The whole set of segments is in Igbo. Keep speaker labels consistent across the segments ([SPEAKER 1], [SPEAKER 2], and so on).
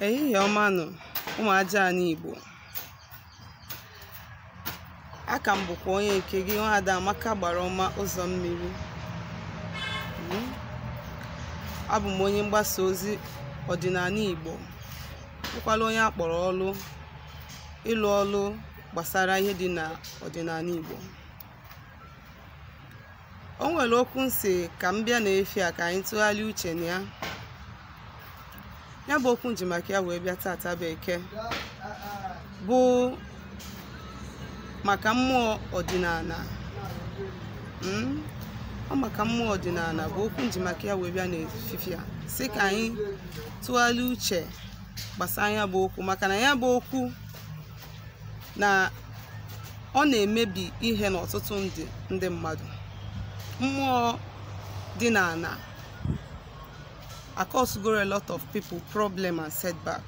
[SPEAKER 1] Ehihie ọma nụ ụmụ aja ani Igbo aka m bụkwa onye nke gị nwaada Amaka Agbara ọma ụzọ mmiri hmm? abụ m onye mgbasa ozi ọdịnala Igbo bụkwala onye a kpọrọ ọlụ ịlụ ọlụ gbasara ihe dị na ọdịnala Igbo o nwere okwu m sị ka m bịa n'efifie a ka anyị tụgharịa uche na ya ya bụ okwu m ji maka ya wee bịa tata bụ Eke bụ maka mmụọ ọdịnala mm? ọ maka mmụọ ọdịnala bụ okwu m ji maka ya wee bịa n'efifie a sị ka anyị tụgharịa uche gbasara ya bụ okwu maka na ya bụ okwu na ọ na-emebi ihe n'ọtụtụ ndụ ndị mmadụ mmụọ ọdịnala acausegoro a lot of people problem and setback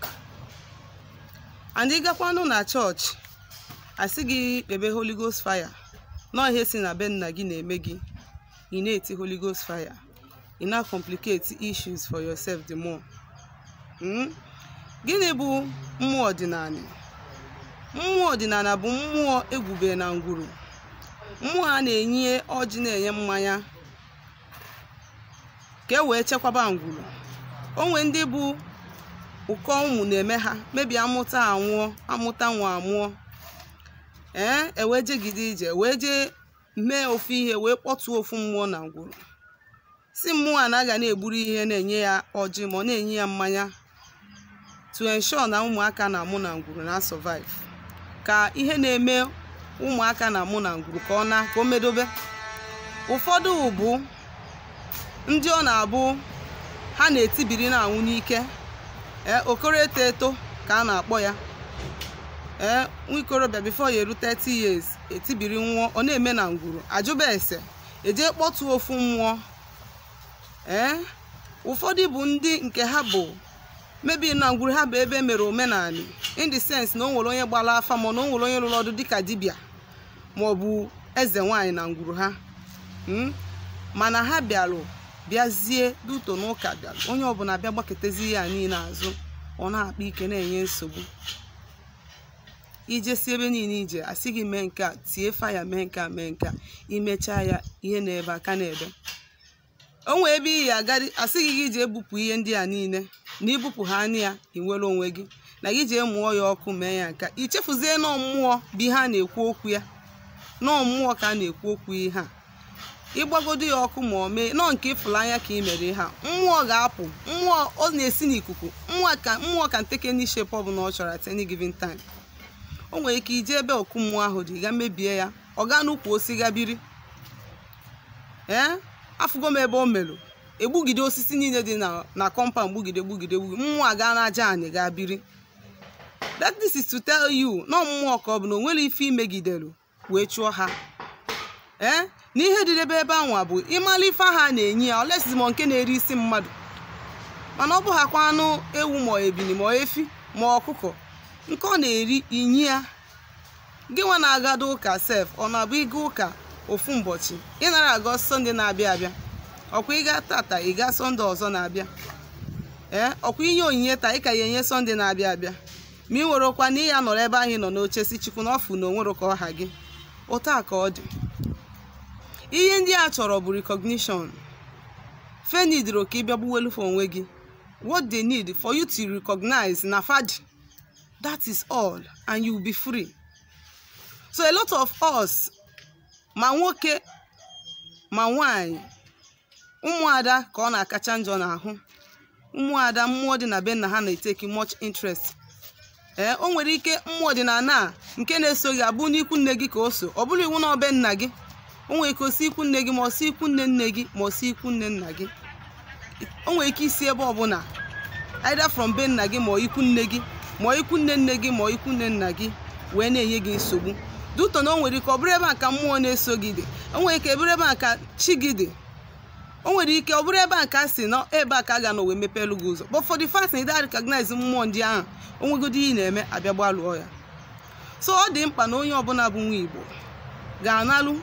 [SPEAKER 1] and ị gakwanụ na church a sị gị kpebe holy ghost fire na ọ ihe si na be nna gị na-eme gị ị na-eti holy ghost fire ị na-complicate issues for yourself the more Mm? gịnị bụ mmụọ ọdịnala mmụọ ọdịnala bụ mmụọ e gwube na ngwuru mmụọ a na-enye ọjị na-enye mmanya ka e wee chekwaba ngwuru o nwee ndị bụ ụkọ ụmụ na-eme ha maybe a mụta anwụọ a mụta nwa anwụọ ee e wee jegide ije wee jee mee ofu ihe wee kpọtụọ ofu mmụọ na ngwuru sị mmụọ a na a ga na-egburu ihe na-enye ya ọjị ma ọ na-enye ya mmanya to ensure na ụmụaka a na-amụ na ngwuru na-asurvive ka ihe na-eme ụmụaka a na-amụ na ngwuru ka ọ na ka o medobe ụfọdụ bụ ndị ọ na-abụ ha na-etibiri na-anwụ n'ike ee okoro eto eto ka a na-akpọ ya ee nwa ikorobịa before ya eru 30 years etibiri nwụọ ọ na-eme na ngwuru a jụba ese e jee kpọtụ ofu mmụọ ee ụfọdụ bụ ndị nke ha bụ maybe na ngwuru ha bụ ebe e mere omenala in the sense na o nwere onye gbara afa ma na o nwere onye lụrụ ọlụ dịka dibịa ma ọ bụ eze nwaanyị na ngwuru ha hmm? mana ha bịarụ bịazie due to na ụka bịara onye ọbụla bịa gbakụtazi ha niile azụ ọ na-akpa ike na-enye nsogbu i jesie ebe niile i je a sị gị mee nke a tie fire mee nke a mee nke a i mechaa ya ihe na-ebe aka na-ebe o nwee ebe ị ya-agadị a sị gị gị jee bupụ ihe ndị a niile na i bupụ ha nya ị nwere onwe gị na gị jee mụọ ya ọkụ mee ya nke a i chefuzie na ọ mmụọ bụ ihe a na-ekwu okwu ya na ọ mmụọ ka a na-ekwu okwu ihe a ịgbagodo ya ọkụ ma ọ mee nọọ nke ịfụla anya ka ị mere ha mmụọ ga-apụ mmụọ ọ na-esi n'ikuku mmụọ ka mmụọ can take any shape ọbụna ọ chọrọ at any given time o nwere ike i je ebe okwu mmụọ ahụ dị ga mebie ya ọ gaa n'ukwu osisi ga biri ee afụgo m ebe o merụ egbugide osisi niile dị na na compound gbugide gbugide gbugide mmụọ aga n'aja anị gaa biri that this is to tell you na mmụọ ka ọ bụ na o nwere ife i megidelu wee chụọ ha ee na ihe dị n'ebe ebe anwa bụ ịmalụ ife ha na-enye ya unless zi mmụọ nke na-eri isi mmadụ mana ọ bụhakwa anụ ewu ma ebili ma efi ma ọkụkọ nke ọ na-eri i nye ya gị nwa na-agado ụka sef ọ na-abụ ị ga ụka ofu ụbọchị ị nara aga sọnde na-abịa abịa ọ kwa ị ga tata ị ga sọnde ọzọ na-abịa ee ọ kwa i nye onyinye taa ị ka ya-enye sọnde na-abịa abịa ma ị nwerọkwa na ị ya-anọrọ ebe ahụ ị nọ n'oche sị chukwu na ọ fụ na o nwere ka ọ ha gị otu a ka ọ dị ihe ndị a chọrọ bụ recognition fa needirọ ka ị bịa gbuwelu fa onwe gị what they need for you to recognize na fa dị that is all and you will be free so a lot of us ma nwoke ma nwanyị ụmụada ka ọ na-akacha njọ n'ahụ ụmụada mmụọ dị na be nna ha na-etake much interest ee o nwere ike mmụọ ọdịnala a nke na-eso gị abụ n'ikwu nne gị ka o si ọ bụrọ iwu na ọ be nna gị o nwere ike o si ikwu nne gị ma ọ si ikwu nne nne gị ma ọ si ikwu nne nna gị o nwere ike isi ebe ọbụla either from be nna gị ma ọ ikwu nne gị ma ọ ikwu nne nne gị ma ọ ikwu nne nna gị wee na-enye gị nsogbu due to na o nwere ike ọ bụrụ ebe a ka mmụọ na-eso gị dị o nwere ike bụrụ ebe a ka chi gị dị o nwere ike ọ bụrụ ebe a ka a sị na ebe a ka a ga-anọ wee mepeelu gị ụzọ but for the fact na ị da recognize mmụọ ndị ahụ o nwegodi ihe ị na-eme a bịa gbalụọ ya so ọ dị mkpa na onye ọbụla bụ nwa igbo ga-analụ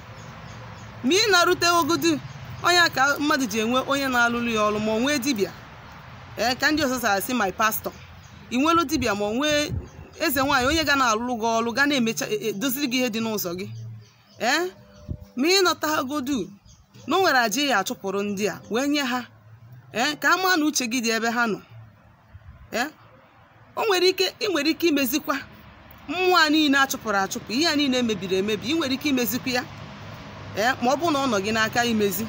[SPEAKER 1] ma ị na-arute ogodi onye a ka mmadụ ji enwe onye na-alụrụ ya ọrụ ma ọ nwee dibịa ee ka ndị ọzọ si asị my pastor ị nwelu dibịa ma ọ nwee eze nwaanyị onye ga na-alụrụ gị ọrụ ga na-emecha e- e- doziri gị ihe dị n'ụzọ gị ee ma i nota ha godu na o nwere aja ị ya-achụpụrụ ndị a wee nye ha ee ka a maa na uche gị dị ebe ha nọ ee o nwere ike ị nwere ike imezikwa mmụọ a niile a chụpụrụ achụpụ ihe a niile mebiri emebi ị nwere ike imezikwa ya ee ma ọ bụrụ na ọ nọ gị n'aka imezi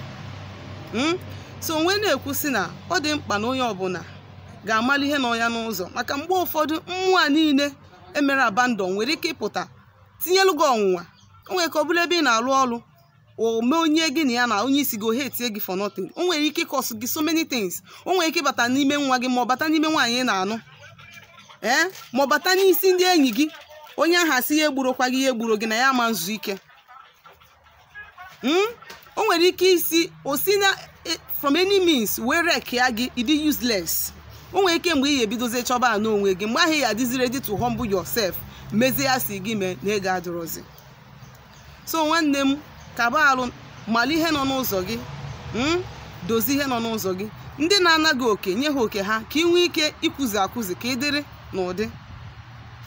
[SPEAKER 1] Mm? so m wee na-ekwu sị na ọ dị mkpa na onye ọbụla ga-amali ihe nọ ya n'ụzọ maka mgbe ụfọdụ mmụọ a niile e mere abandon nwere ike ịpụta tinyelu gị ọnwụnwa o nwere ike ọ bụrụ ebe ị na-alụ ọrụ o mee onye gị na ya na onye isi gị ọ hatie gị for nothing o nwere ike ịcause gị so many things o nwere ike ịbata n'ime nwa gị ma ọ bata n'ime nwaanyị ị na-anụ ee ma ọ bata n'isi ndị enyi gị onye ahụ asị ya egburokwa gị ya egburo gị na ya ama nzu ike Mm? o nwere ike isi o si na e- from any means wee wreckịa gị ịdị useless o nwere ike mgbe ị ga-ebidozie chọba n'onwe gị mgbe ahụ ị ya-adịzi ready to humble yourself mezie ihe a sị gị mee na ego adịrọzi so nwanne m kaba arụ mara ihe nọ n'ụzọ gị mm? dozie ihe nọ n'ụzọ gị ndị na-anaghị oke nye ha oke ha ka ị nwee ike ịkwụzi akwụzi ka ị dịrị n'ụdị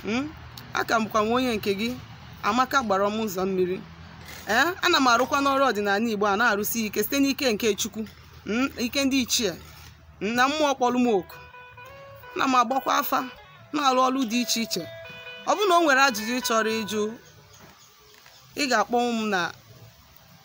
[SPEAKER 1] Mm? aka m bụkwa nwa onye nke gị amaka gbara m ụzọ mmiri ee ana m arụkwa n'ọrụ ọdịnala igbo a na-arụsi ike site n'ike nke chukwu mm, ike ndị ichie mm, na mmụọ kpọrọ m oku ana m agbakwa afa na-arụ ọrụ dị iche iche ọ bụrụ na o nwere ajụjụ ị chọrọ ịjụ ị ga-akpọnwụ m na